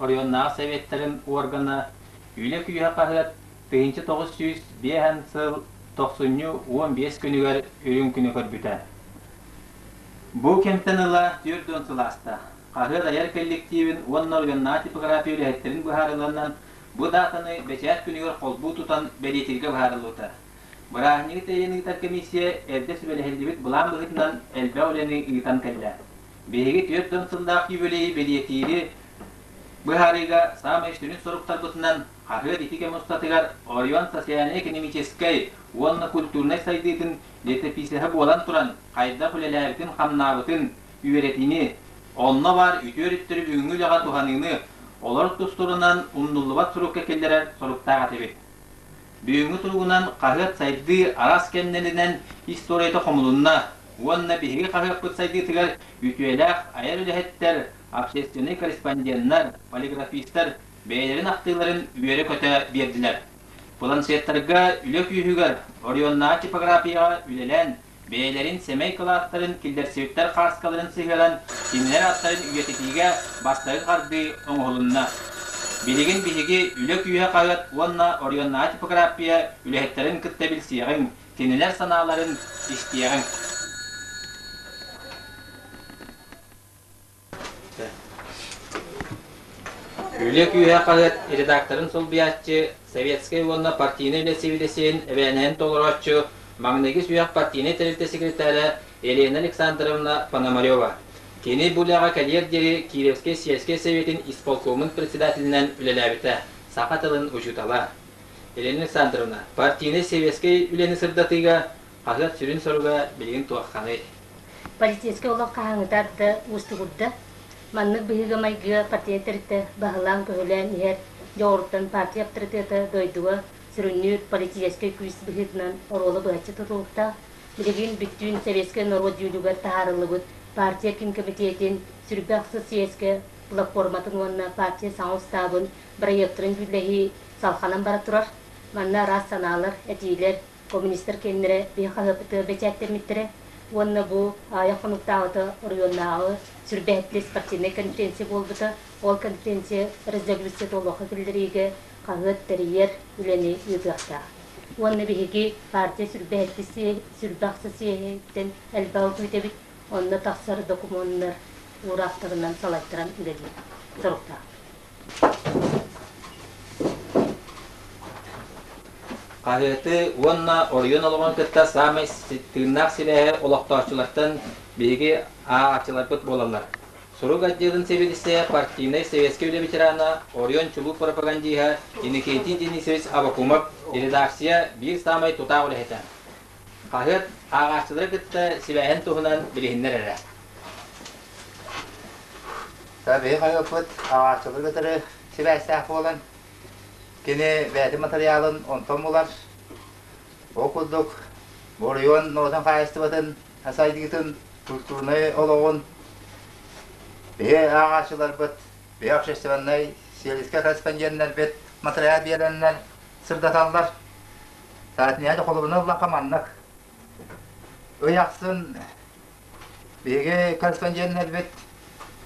оройуоннааҕы сэбиэттэрин уоргана, Үлэ күүһэ хаһыат тыһыынча тоҕус сүүс биэһэн сыл тохсунньу уон биэс күнүгэр Үрүҥ күнү көрбүтэ. Бу кэмтэн ыла түөрт уон сыл ааста. Хаһыат айар кэлликтиибин уонна оройуоннааҕы типография үлэһиттэрин быһаарылланнан, бу даатаны бэчээт күнүгэр холбуу тутан бэлиэтииргэ быһаарыллыбыта. Бырааһынньыгы тэйэн ыытар комиссия эрдэ сүбэлэһиллибит былаан быһыытынан элбэх үлэни ыытан кэллэ. Биһиги түөрт уон сыллаах юбилейы бэлиэтиири быһаарыыга саамай сүрүн соруктарбытынан хаһыат ити кэм устатыгар оройуон социальнай-экономическай уонна культурнай сайдыытын летописеһа буолан туран хайдах үлэлээбитин-хамнаабытын, үөрэтини, онно баар үтүө өрүттэри бүгүҥҥү үлэҕэ туһаныыны олор тустурунан умнуллубат сурукка киллэрэр соруктаах этибит. Бүгүҥҥү туругунан хаһыат сайдыы араас кэмнэринэн историята хомулунна уонна биһиги хаһыаппыт сайдыытыгар үтүөлээх айар үлэһиттэр, общественнай корреспонденнар, полиграфистар бэйэлэрин ахтыыларын үөрэ-көтө биэрдилэр. Планшеттарга үлэ күүһүгэр, оройуоннааҕы типографияҕа үлэлээн, бэйэлэрин сэмэй кылааттарын, киллэрсибиттэр хааскаларын сыһыаран, кинилэр аттарын үйэтитиигэ бастакы хардыы оҥоһулунна. Билигин биһиги Үлэ күүһэ-хаһыат уонна оройуоннааҕы типография үлэһиттэрин кытта билсиэҕиҥ, кинилэр санааларын истиэҕиҥ. Үлүө күүһэ хаһыат редакторын солбуйааччы, Советскай уонна партийнай үлэ сибидэсиин эбээнэһин толорооччу, маҥнайгы сүһэх партийнай тэрилтэ секретаря Елена Александровна Пономарева. Кини бу үлэҕэ кэлиэр диэри Кировскай сельскэй сэбиэтин исполкомун председателинэн үлэлээбитэ, саха тылын учуутала. Елена Александровна, партийнай сэбиэскэй үлэни сырдатыыга Хаһыат сүрүн соруга билигин туохханый? Полицейскай олох хаһааҥҥыта арда уустугурда. Маннык быһыыга-майгыга портret тэрилтэ баһылаан-көһүлээн иһэр дьоҕуруттан партия аптарытыата дойдуга сүрүннүүр политическай күүс быһыытынан оруола быһаччы тутулуктаах, билигин бүттүүн советскай норуот дьүүлүгэр таһаарыллыбыт партия киин кэмитиэтин Сүрбэ ахсыс сийиэскэ платформатын уонна партия саҥа устаабын бырайыактарын дьүүллэһии салҕанан бара турар. Манна араас санаалар, этиилэр, Коммунистар кэннилэрэ тыа хаһыаппытыгар бэчээттэммиттэрэ уонна бу аайы хонуктааҕыта оройуоннааҕы сүүрбэһиттии спортивнай конференция буолбута. Ол конференция резолюция туолуохха киллэриигэ хаһыат тэрийэр үлэни ыытыахтаах. Уонна биһиги партия сүүрбэ ахса съеһиттэн элбэҕи күүтэбит, онно тахсар докумуоннар уураахтарынан салайтаран үлэлиир соруктаах. Хаһыаты уонна оройуон олоҕун кытта саамай тыыннаах сибээһи олохтооччулартан биһиги ааҕааччыларбыт буолаллар. Сурук отделын сэбиэдиссэйэ, партийнай сэбиэскэй үлэ ветерана, оройуон чулуу пропагандиһа Иникиэтин Денисович Абакумов, редакция биир саамай тутаах үлэһитэ. Хаһыат ааҕааччылары кытта сибээһин туһунан билиһиннэр эрэ. Биһи хаһыаппыт ааҕааччылары кытары сибээстээх буолан, кини бэйэтин матырыйаалын онтон булар. Ол курдук, оройуон норуотун хаһаайыстыбатын сайдыытын, культурнай олоҕун биһи ааҕааччыларбыт, биһи общественнай, сиэлискэ корреспонденнарбыт матырыйаал биэрэннэр, сырдаталлар. Саатынньаһа холобурунан ыллахха маннык. Ый ахсын биһиги корреспонденнарбыт,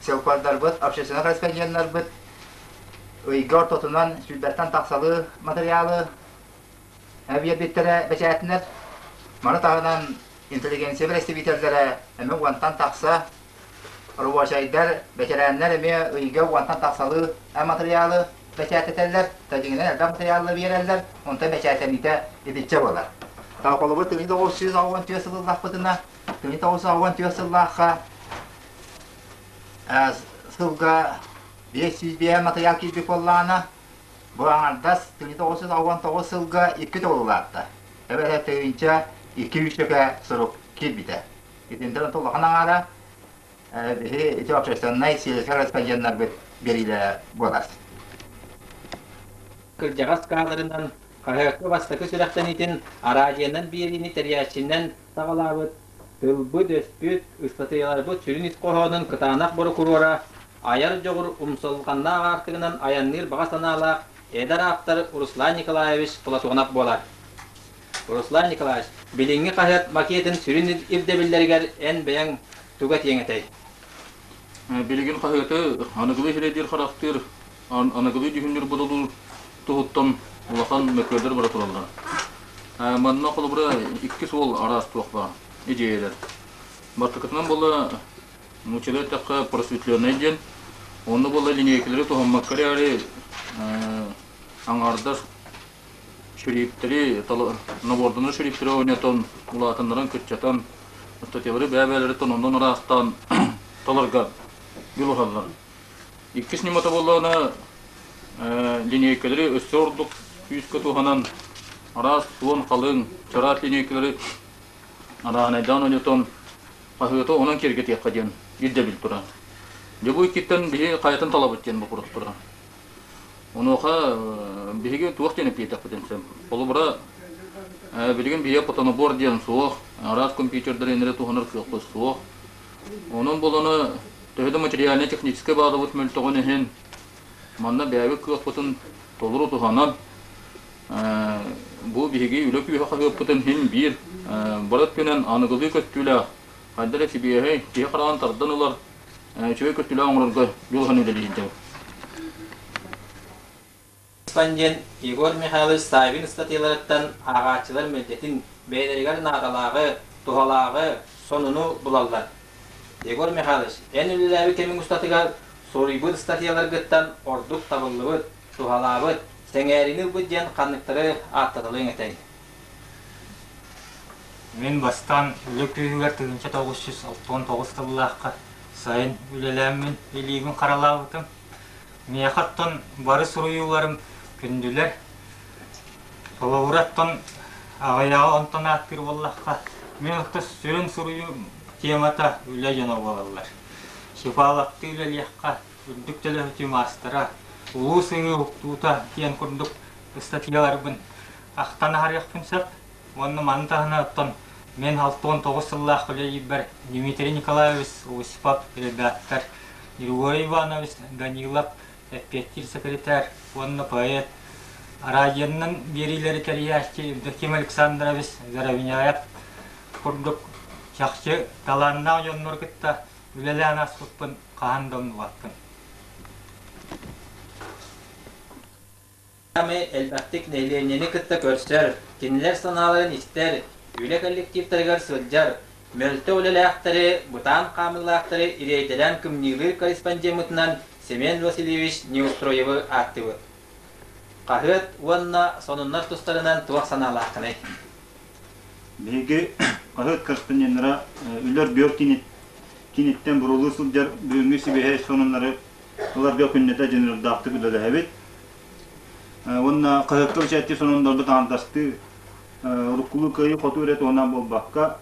сылпардарбыт, общественнай корреспонденнарбыт ыйга ортотунан сүүрбэттэн тахсалыы матырыйаалы биэрбиттэрэ бэчээтинэр. Маны таһынан интеллигенция бэрэстэбиитэллэрэ эмэ уонтан тахса Рабочайдар, бэтэрээннэр эмиэ ыйга уонтан тахсалыы матырыйаалы бэчээттэтэллэр, татиҥынан элбэх матырыйаалы биэрэллэр, онтон бэчээттэниитэ итиччэ буолар. Толколобут түҥи тоҕус сүүс оҕуон түөрт сыл ыллахпытына, түҥи тоҕус оҕуон түөрт сыллаахха сылга биэс сүүс биэс матырыйаал киирбит буоллаҕына, бу аҥардас түҥи тоҕус сүүс оҕуон тоҕус сылга икки төгүл улаатта. Эбэтэр тыһыынча икки сүүсчэкэ сурук киирбитэ. Итинтэн ыта улахан аҥаара биһи ити общественнай сиэсэр распоряднарбыт бириилэрэ буолар. Кырдьаҕас каадырынан хаһыакка бастакы сүрэхтэниитин араадьыйанан биэриини тэрийээччинэн саҕалаабыт, тылбыт-өспүт, ыстатыйаларбыт сүрүн ис хоһоонун кытаанах борокуруора, айар дьоҕур умсулҕаннаах аартыгынан айанныыр баҕа санаалаах эдэр ааптар Руслан Николаевич Платонов буолар. Руслан Николаевич, билиҥҥи хаһыат макетын сүрүн ирдэбиллэригэр эн бэйэҥ туга этиэҥ этэй? Билигин хаһыаты аныгылыы сирэйдиир-харахтыыр, аныгылыы дьүһүннүүр-бодолуур туһуттан улахан мөккүөрдэр бара тураллар. Манна холобура иккис уол араас туох баар идиэйэлэр. Бастакытынан була нууччалыы эттэххэ просветленнай диэн, онно була линейкалары туһаммакка эрээри аҥаардас шрифтэри, набордунуу шрифтэри ойнотон, улаатыннаран, кыччатан, аттатыылары бэйэ-бэйэлэриттэн оннун ыраастаан таларга дьулуһаллар. Иккис ньымата буоллаҕына, линейкалары өссө ордук күүскэ туһанан, араас суон, халыҥ, чараас линейкалары арааһынайдаан ойотон, хаһыаты онон киэргэтиэххэ диэн ирдэбил турар. Дьобу иккиттэн биһи хайатын талабыт диэн бопуруос турар. Онуоха э, биһиги туох диэн эппиэтиэхпитин сөп. Холобура, э, билигин биһиги потонобор диэн суох, араас компьютердарын эрэ туһанар кыахпыт суох. Онон буланы төһө да материально-техническэй баадабыт мөлтөҕүн иһин, манна бэйэбит кыахпытын толору туһанан, э, бу биһиги үлэ күүһэ хаһыаппытын иһин биир, э, бары өттүнэн аныгылыы көттүүлээх, хайда эрэ сибиэһэй, киһи хараҕын тардан ылар үчүгэй көстүүлээх оҥорорго дьулуһан үлэлиһиндэбит. Респондент Егор Михайлович Ставин ыстатыйаларыттан ааҕааччылар мэлдьэтин бэйэлэригэр наадалааҕы, туһалааҕы, сонуну булаллар. Егор Михайлович, эн үлэлээбит кэмиҥ устатыгар суруйбут ыстатыйаларгыттан ордук табыллыбыт, туһалаабыт, сэҥээриини ылбыт диэн ханныктары ааттаталыаҥ этэй? Мин бастаан үлэ күүһүгэр тыһыынча тоҕус жүз алпыс тоҕус сыллаахха сайын үлэлээммин илиибин харалаабытым. Миэхэ оттон бары суруйууларым күндүлэр. Холобура оттон аҕыйаҕа онтон ааттыыр буоллахха, мин оттон сүрүн суруйуу темата үлэ дьоно буолаллар. Сипаалахтыы үлэлиэххэ, үрдүк төлөһүтүү маастара, улуус ыһыы уктуута диэн курдук ыстатыйаларбын ахтан аһарыахпын сөп уонна маны таһынан мен алты уон тоҕус сыллаахха үлэлиирбэр Дмитрий Николаевич Усипов редактор, Григорий Иванович Данилов эппиэттиир секретарь уонна поэт, араадьыйанан биэриилэри тэрийээччи Евдоким Александрович Заровняев курдук чахчы талааннаах дьоннор кытта үлэлээн ааспыппын хаһан да умнубаппын. Ами элбэхтик нэһилиэнньэни кытта көрсөр, кинилэр санааларын истэр, үлэ коллективтарыгар сылдьар, мөлтөх үлэлээхтэри, бытаан хаамыылаахтары ириэйдэрэн кымньыылыыр корреспондеммытынан Семен Васильевич Неустроевы ааттыыбыт. Хаһыат уонна сонуннар тустарынан туох санаалааххыный? Биһиги хаһыат корреспонденнара Үлэр Бүөр киниттэн буруулыы сылдьар бүгүҥҥү сибиэһэй сонуннары ыларга күннэтэ дьонуурдаахтык үлэлэһэбит. Уонна хаһыакка бэчээттии сононнорбут аандастыы, уруккулуу кыайыы хоту өрөт уһунаан буолбакка,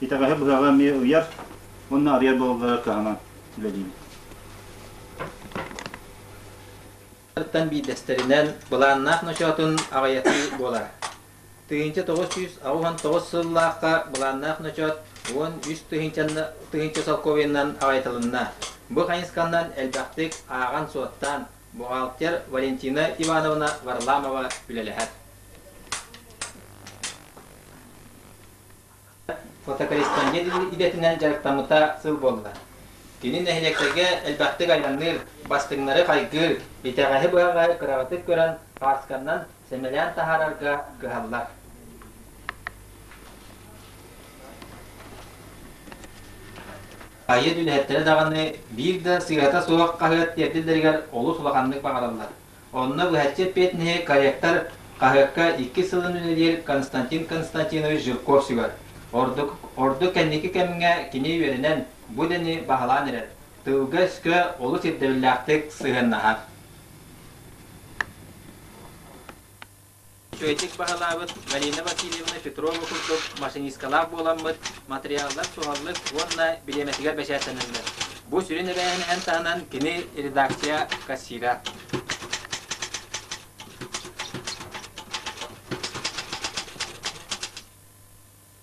итэҕэһи быһаҕа эмиэ ыйар уонна арыйар буолаллара кыһанан үлэлиибит. биирдэстэринэн былааннаах ночоотун аҕыйатыы буолар. Тыһыынча тоҕус сүүс аҕыс уон тоҕус сыллаахха былааннаах ночоот уон үс тыһыынча солкуобуйанан аҕайтылынна. Бу хайысханан элбэхтик ааҕан-суоттаан, Бухгалтер Валентина Ивановна Варламова үлэлэһэр. Фотокорреспондент идэтинэн дьарыктаммыта сыл буолла. Кини нэһилиэктэргэ элбэхтик айанныыр, бастыҥнары хайгыыр, итэҕэһи быһаҕа кыраҕытык көрөн, паасканнан сэмэлээн таһаарарга кыһаллар. Айыы түнээттэрэ даҕаны биир да сыыһата суох хаһыат тиэрдиллэригэр олус улаханнык баҕарыллар. Онно быһаччы эппиэтинэһи корректор хаһыакка иккис сылын үлэлиир Константин Константинович Жирков сүгэр. Ордук ордук кэнники кэмҥэ кини үөрэнэн, бу идэни баһылаан эрэр. Тылга-өскө олус ирдэбиллээхтик сыһыаннаһар. Үчүгэйдик баһылаабыт Галина Васильевна Петрова курдук машинисткалаах буоламмыт, матырыйааллар суһаллык уонна бириэмэтигэр бэчээттэнэллэр. Бу сүрүн эбээһинэһин таһынан кини редакция кассира.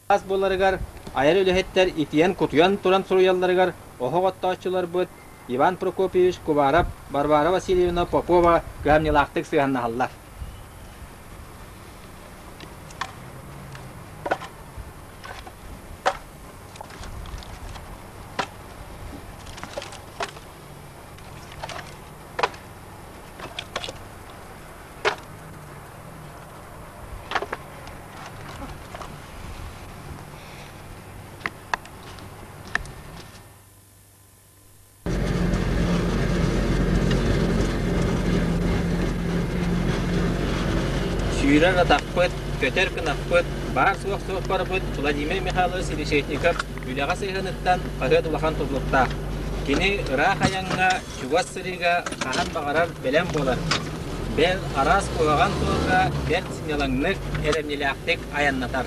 ас буларыгар, айар үлэһиттэр итийэн-кутуйан туран суруйалларыгар оһох оттооччуларбыт Иван Прокопьевич Кубаров, Варвара Васильевна Попова кыһамньылаахтык сыһыаннаһаллар. Сүүрэн атахпыт, көтөр кынаппыт, баар-суох суох барбыт Владимир Михайлович Силичетников үлэҕэ сыһыаныттан хаһыат улахан тутулуктаах. Кини ыраах айаҥҥа чугас сырыыга хаһан баҕарар бэлэм буолар, бэл араас куһаҕан суолга бэрт сынньалаҥнык, эрэмньилээхтик айаннатар.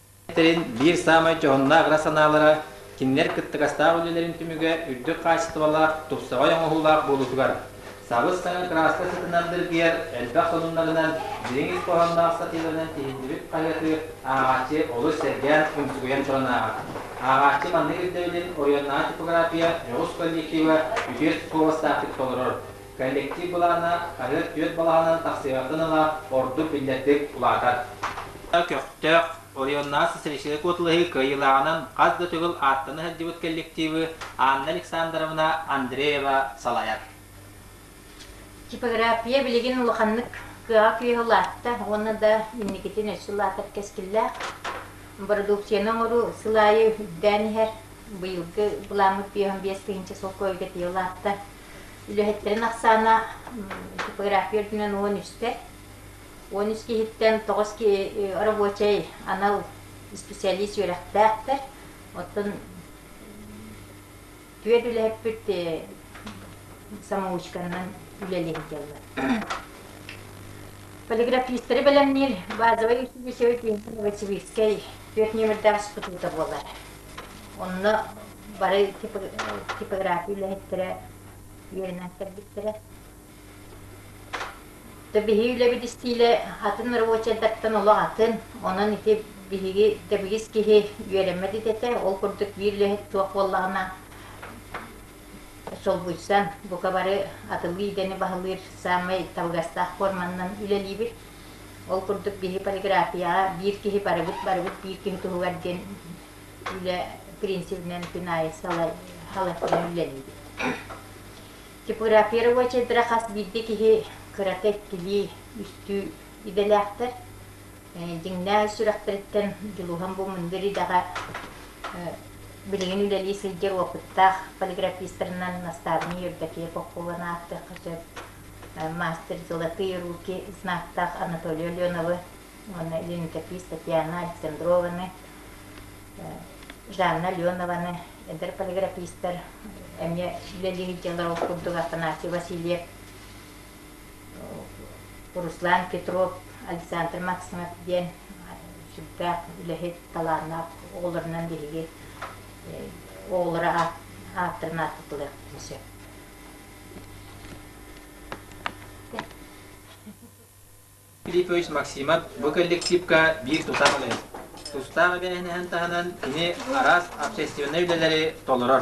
тэрин биир саамай дьоһуннаах ыра санаалара кинилэр кыттыгастаах үлэлэрин түмүгэ үрдүк хаачыстыбалаах, тупсаҕай оҥоһуулаах буолуутугар, сабыс-саҥа кырааска сытынан дыргыйар элбэх сонуннарынан, дириҥ ис хоһоонноох сатыыларынан тиһиллибит хаһыаты ааҕааччы олус сэргээн, умсугуйан туран ааҕар. Ааҕааччы маннык ирдэбилин оройуоннааҕы типография дьоҕус коллектива үтүө суобастаахтык толорор, Коллектив былаана хаһыат түөрт балаҕанынан тахсыйбатын ыла ордук биллэрдик улаатар. Көхтөөх, оройуоннааҕы социалистическай куотулаһыы кыайыылааҕынан хас да төгүл ааттана сылдьыбыт коллективы Анна Александровна Андреева салайар. Типография билигин улаханнык кыаҕа-күүһэ улаатта уонна да инникитин өссө улаатар кэскиллээх. Бородууксуйаны оҥоруу сыл аайы үрдээн иһэр. Быйылгы былааммыт биэс тыһыынча солкуойга тиийэ улаатта. үлэһиттэрин ахсаана типография үрдүнэн уон үстэ. Уон үс киһиттэн тоҕус киһи рабочай анал исписэлиис үөрэхтээхтэр. Оттон түөрт үлэһиппит самоучканан үлэлиир дьаллар. Полиграфистары бэлэмниир базовай училищевой киинтэн новосибирскай түөрт нүөмэрдээх института буолар. Онно бары типография үлэһиттэрэ үөрэнэн кэлбиттэрэ. То биһиги үлэбит истиилэ атын рабочайдартан олох атын. Онон ити биһиги тэбигис киһи үөрэммэт этэ. Ол курдук биир үлэһит суох буоллаҕына солбуйсан, бука бары атылыы идэни баһылыыр саамай табыгастаах форманынан үлэлиибит. Ол курдук биһи полиграфияҕа биир киһи барыбыт барыбыт биир киһи туһугар диэн үлэ принципинэн Пинай салатынан үлэлиибит. Типографировая чедра хас биирдэ киһи кырата иккилии үстүү идэлээхтэр. Дьиҥнээх сүрэхтэриттэн Дьулуһан бу мындыр идэҕэ билигин үлэлии сылдьар опыттаах полиграфистарынан настаабынай Евдокия Попкованы ааттыахха сөп. Мастер золотые руки знактаах Анатолий Аленовы Она Леонтьев Татьяна Александрованы, Жанна Ленованы, эдэр полиграфистар, эмиэ үлэлии сылдьаллар ол курдук Афанасий Васильев, Руслан Петров, Александр Максимов диэн сүрдээх үлэһит, талааннаах оҕолорунан биһиги оҕолоро ааттарын ааттатылыахпытын сөп. Филиппович Максимов бу коллективка биир тутаах үлэ. Тустаах эбээһинэһин таһынан кини араас общественнай үлэлэри толорор.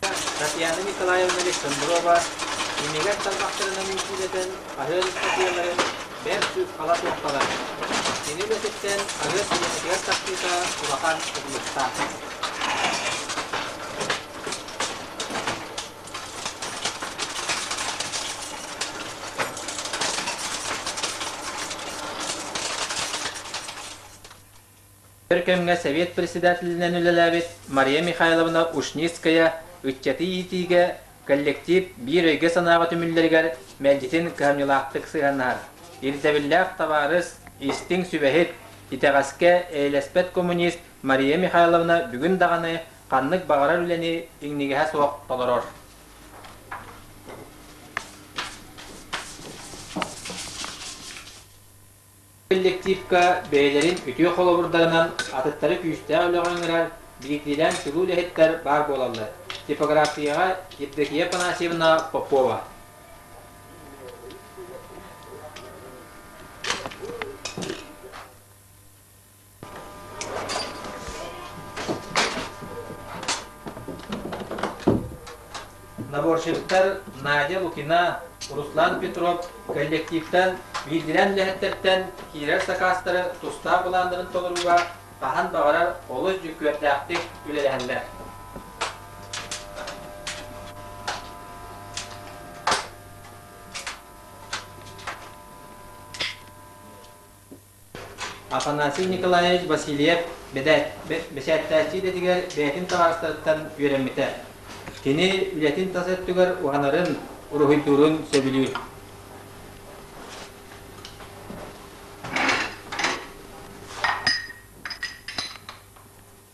Татьяна Николаевна Александрова имигэр тарбахтарынан иитиилэтэн хаһыат ыстатыйаларын бэрт сыыппала туохталар. Кини үлэтиттэн хаһыат сиэнэтигэр тахсыыта улахан тутулуктаах. Өр кэмҥэ Сэбиэт председателинэн үлэлээбит Мария Михайловна Ушницкая ыччаты иитиигэ коллектив биир өйгө-санааҕа түмүллэригэр мэлдьитин кыһамньылаахтык сыһыаннаһар, ирдэбиллээх табаарыс, истиҥ сүбэһит, итэҕэскэ эйэлэспэт коммунист Мария Михайловна бүгүн даҕаны ханнык баҕарар үлэни иҥнигэһэ суох толорор. коллективка бэйэлэрин үтүө холобурдарынан атыттары күүстээх үлэҕэ ыҥырар, биирдиилээн чулуу үлэһиттэр баар буолаллар. Типографияҕа Евдокия Панасьевна Попова. Наборщиктар Надя Лукина, Руслан Петров коллективтан биирдирэн үлэһиттэртэн киирэр сакаастары тустаах былааннарын толорууга хаһан баҕарар олус дьүккүөрдээхтик үлэлэһэллэр. Афанасий Николаевич Васильев бэчээттээччи идэтигэр бэйэтин таһаҕастарыттан үөрэммитэ. Кини үлэтин тас өттүгэр уһанарын, уруһуйдуурун сөбүлүүр.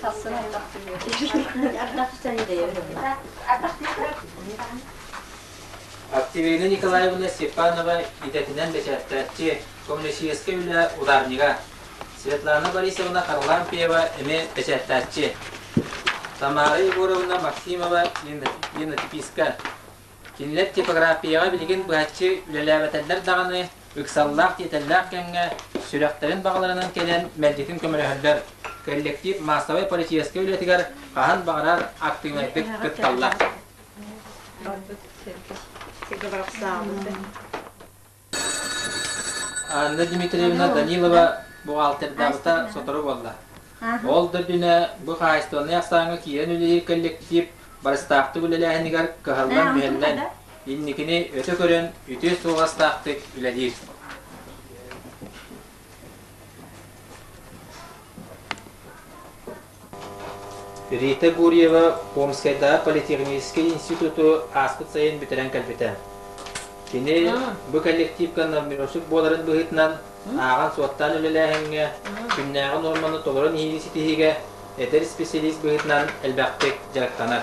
Сасын ардах түһүөтэ. Ардах түтэн дэйэр. Ардах түһүөтэ. Активирина Николаевна Степанова идэтинэн бэчээттээччи, коммунистическай үлэ ударнига, Светлана Борисовна Харлампьева эмиэ бэчээттээччи, Тамара Егоровна Максимова Енотиписка Кинилэр типографияҕа билигин быһаччы үлэлээбэтэллэр даҕаны, ыксаллаах-тиэтэллээх кэмҥэ сүрэхтэрин баҕаларынан кэлэн мэлдьитин көмөлөһөллөр, коллектив маассабай полицейскай үлэтигэр хаһан баҕарар актыыбынайдык кытталлар. Сиргэ барахсаабыт да. Анна Дмитриевна Данилова буҕаалтырдаабыта сотору буолла. Ол да үрдүнэ бу хаһаайыстыбаннай ахсааҥҥа киирэн үлэлиир коллектив барыстаахтык үлэлээһинигэр кыһаллан мүһэллэн, инникини өтө көрөн, үтүө суоластаахтык үлэлиир. Рита Гурьева Омскайдааҕы политехническай институту ааспыт сайын бүтэрэн кэлбитэ. Кини бу коллективка надмүросук буоларын быһыытынан ааҕан-суоттаан үлэлээһиҥҥэ, күннээҕи нуорманы толорон иһиини ситиһиигэ эдэр исписэлиис быһыытынан элбэхтик дьарыктанар.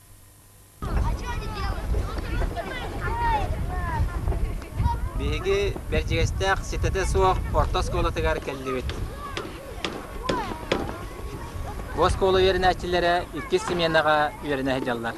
Биһиги Бэрдьигэстээх ситэтэ суох орто оскуолатыгар кэллибит. Бу оскуола үөрэнээччилэрэ иккис сменаҕа үөрэнэ сылдьаллар.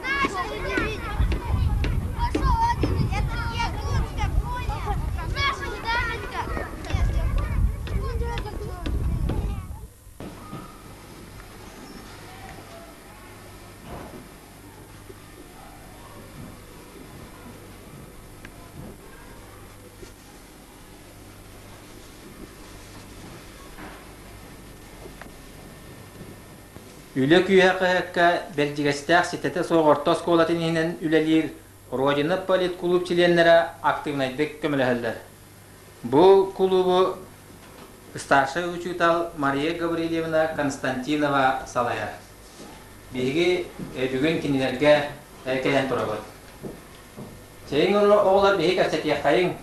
Үлэ күүһэ-көһөккө Бэрдьигэстээх ситэтэ суох орто оскуолатын иһинэн үлэлиир Родина политкулууп чилиэннэрэ актыыбынайдык көмөлөһөллөр. Бу кулуубу старшай учуутал Мария Гаврильевна Константинова салайар. Биһиги бүгүн кинилэргэ кэлэн турабыт. Чэйиҥ оҕолор биһи кэпсэтиэххэйиҥ.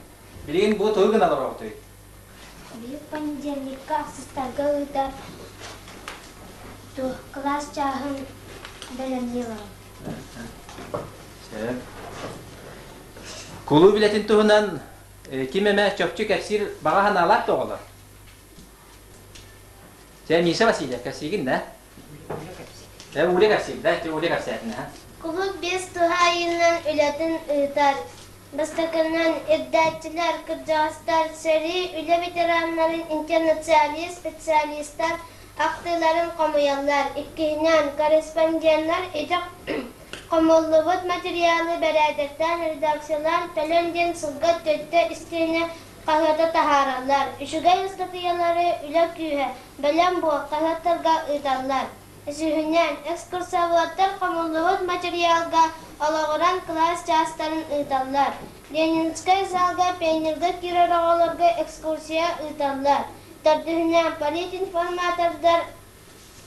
Билигин бу тугу гына олоробутуй? Биир понедельникка ахсыстарга ыыта кылаас чааһын бэлэмнии олорон. Кулууп үлэтин туһунан Ким эмэ чопчу кэпсиир баҕа санаалаах да оҕолор? Чэ, Миша Васильев, кэпсиигин да? Ууля кэпсиир, да? Ууля кэпсээтин, ха? Кулууп биэс туһаайыынан үлэтин ыытар. Бастакынан, ирдээччилэр, кырдьаҕастар, сэрии, үлэ ветераннарын, интернационалист, специалистар Ахтыыларын хомуйаллар, иккиһинэн, корреспонденнар идэх хомуллубут материалы бэрээдэктээн редакциялаан кэлэн диэн сылга төрдө истиэнэ хаһыата таһаараллар. Үчүгэй ыстатыйалары үлэ күүһэ, бэлэм буол хаһыаттарга ыыталлар. Үсүһүнэн, экскурсоводтар хомуллубут материалга олоҕуран кылаас чаастарын ыыталлар. Ленинскэй залга пионерга киирэр оҕолорго экскурсия ыыталлар. Төрдүһүнэн, политинформатордар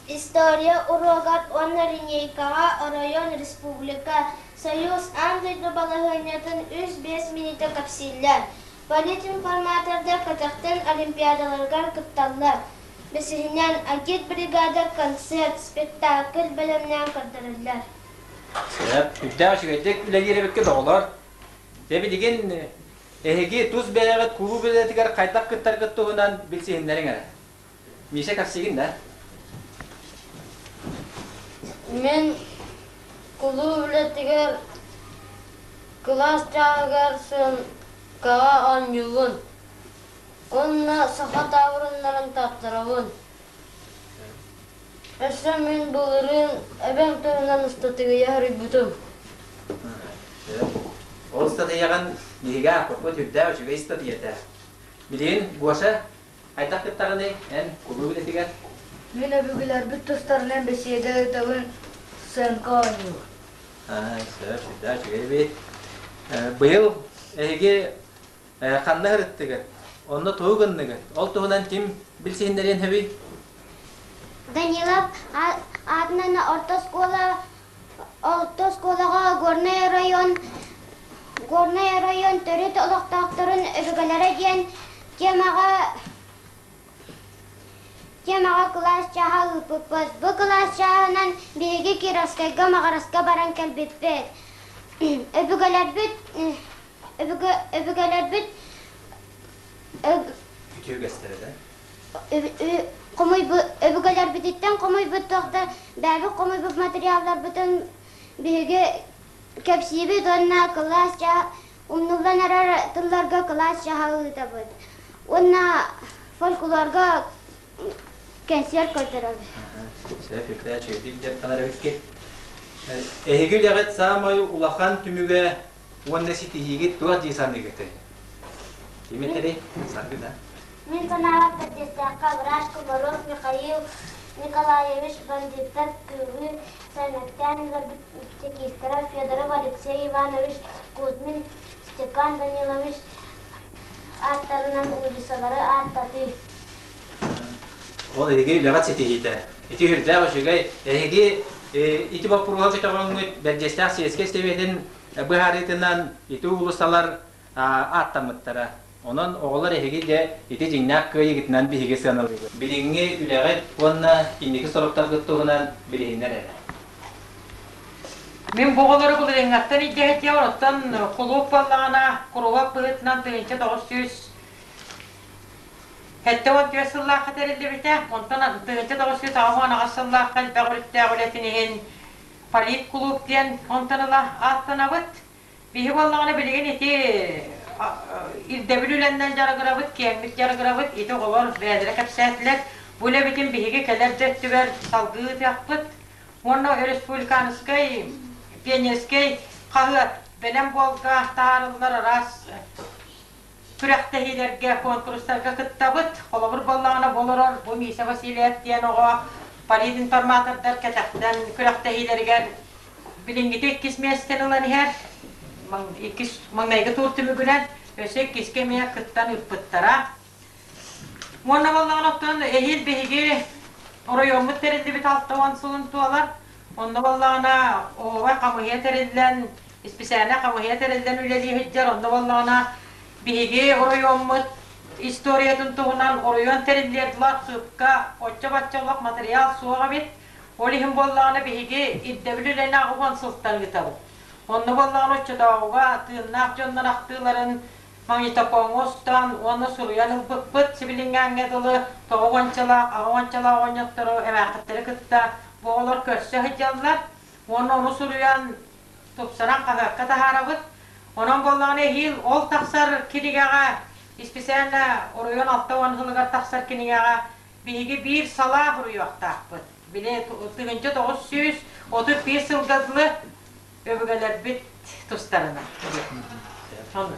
история уруогар уонна линейкаҕа оройуон, республика, Союз аан дойду балаһыанньатын үс-биэс мүнүүтэ кэпсииллэр. Политинформатордар көтөхтөн олимпиадаларыгар кытталлар. Бэсиһинэн, агит-бригада концерт, спектакль бэлэмнээн көрдөрөллөр. Сөп. Үрдээх үчүгэйдик үлэлиир эбиккит, оҕолор. Дьэ, билигин Эһиги тус бэйэҕит кулууп идэтигэр хайдах кыттаргыт туһунан билсиһиннэриҥ эрэ. Миша, кэпсиигин да. Мин кулууп үлэтигэр кылаас чааһыгар сыаҥкаҕа оонньуубун уонна саха таабырыннарын тартарабын. Өссө мин былырыын эбэм туһунан ыстатыйа хоруйбутум. Ол ыстатыйаҕын биһиги ааппыппыт үрдээх үчүгэй ыстатыйата. Билигин Гоша, хайдах кыттаҕыный? Эн кулууп үлэтигэр? Мин өбүгэлэрбит тустарынан бэсиэдэ ыытабын сценка оонньуур. Аа, сөп, үрдээх үчүгэй эбит. Быйыл эһиги Э, ханна сырыттыгыт? Онно тугу гынныгыт? Ол туһунан ким билсиһиннэриэн сөбүй? Данилов аатынан орто оскуола, орто оскуолаҕа Горный район, Горный район төрүт олохтоохторун өбүгэлэрэ диэн темаҕа темаҕа кылаас чааһа ыыппыппыт. Бу кылаас чааһынан биһиги Кировскайга Маҕараска баран кэлбиппит. Өбүгэлэрбит өбүгэлэрбит үтүө үгэстэрэ да хомуйбу өбүгэлэрбититтэн хомуйбуттах да бэйэбит хомуйбут материалларбытын биһиги кэпсиибит уонна кылаас ча умнуллан эрэр тылларга кылаас чаһа ыытабыт уонна фольклорга кэнсиэр көрдөрөбүт Эһиги үлэҕит саамай улахан түмүгэ уонна ситиһиигэ туох дии саныыгытай? Ким этэрэй? Саргы да? Мин санаабар тардыахтаахха врач Комаров Михаил Николаевич бандьыыттар кыылы саймэктээн чекистера Федоров Алексей Иванович Кузьмин Степан Данилович ааттарынан уулиссалары ааттатыы Ол эһиги үлэҕит ситиһиитэ. Ити үрдээх үчүгэй. Эһиги ити боппуруоһу көтөҕөҥҥүт Бэрдьиэстээх сиэскэй сэбиэтин быһаарыытынан ити уулуссалар ааттаммыттара. Онон оҕолор эһиги дьэ ити дьиҥнээх кыайыгытынан биһиги сыаналыыбыт. Билиҥҥи үлэҕит уонна инники соруктаргыт туһунан билиһиннэр эрэ. Мин бу оҕолору былырыыҥҥаттан илдьэһэтиэ, оттон кулууп буоллаҕына, куруһуок быһыытынан тыһыынча тоҕус сүүс Сэттэ уон түөрт сыллаахха тэриллибитэ, онтон тыһыынча тоҕус сүүс аҕыс уон аҕыс сыллаахха элбэх өрүттээх үлэтин иһин политклуб диэн онтон ыла ааттанабыт. Биһи буоллаҕына билигин ити ирдэбил үлэннэн дьарыгырабыт, киэҥник дьарыгырабыт, ити оҕолор бэйэлэрэ кэпсээтилэр. Бу үлэбитин биһиги кэлэр да өттүгэр салгыы ыытыахпыт. Уонна республиканскай пионерскай хаһыат Бэлэм буолга таһаарыллар араас күрэхтэһиилэргэ, куонкурустарга кыттабыт. Холобур буоллаҕына, бу олорор бу Миша Васильев диэн оҕо полиинформатордар кэтэхтэн күрэхтэһиилэригэр билиҥҥитэ иккис миэстэни ылан иһэр. Иккис маҥнайгы тур түмүгүнэн өссө иккискэ эмиэ кыттан ыыппыттара. Уонна буоллаҕына, оттон эһиил биһиги оройуоммут тэриллибит алта уон сылын туолар Онно буоллаҕына, оһуобай хамыыһыйа тэриллэн, исписээнэ хамыыһыйа тэриллэн үлэлии сылдьар. Онно буоллаҕына, биһиги оройуоммут историятын туһунан оройуон тэриллиэр дылы архыыпка оччо-бачча олох матырыйаал суох эбит. Ол иһин буоллаҕына, биһиги ирдэбил үлэни аҕыс уон сылтан ыытабыт. Онно буоллаҕына, оччотооҕуга тыыннаах дьоннор ахтыыларын магнитофоҥҥа устан уонна суруйан ылбыппыт, сибилиҥҥээҥҥэ дылы тоҕо уончалаах, аҕа уончалаах оонньоттору, эмээххиттэри кытта бу оҕолор көрсө сылдьаллар уонна ону суруйан, тупсаран хаһыакка таһаарабыт. Онон буоллаҕына эһиил ол тахсар кинигэҕэ, исписээнэ оройуон алта уон сылыгар тахсар кинигэҕэ биһиги биир салаа буруйуохтаахпыт. Били тыһыынча тоҕус сүүс отут биир сылга дылы Өбүгэлэрбит тустарынан диэн. Сонно.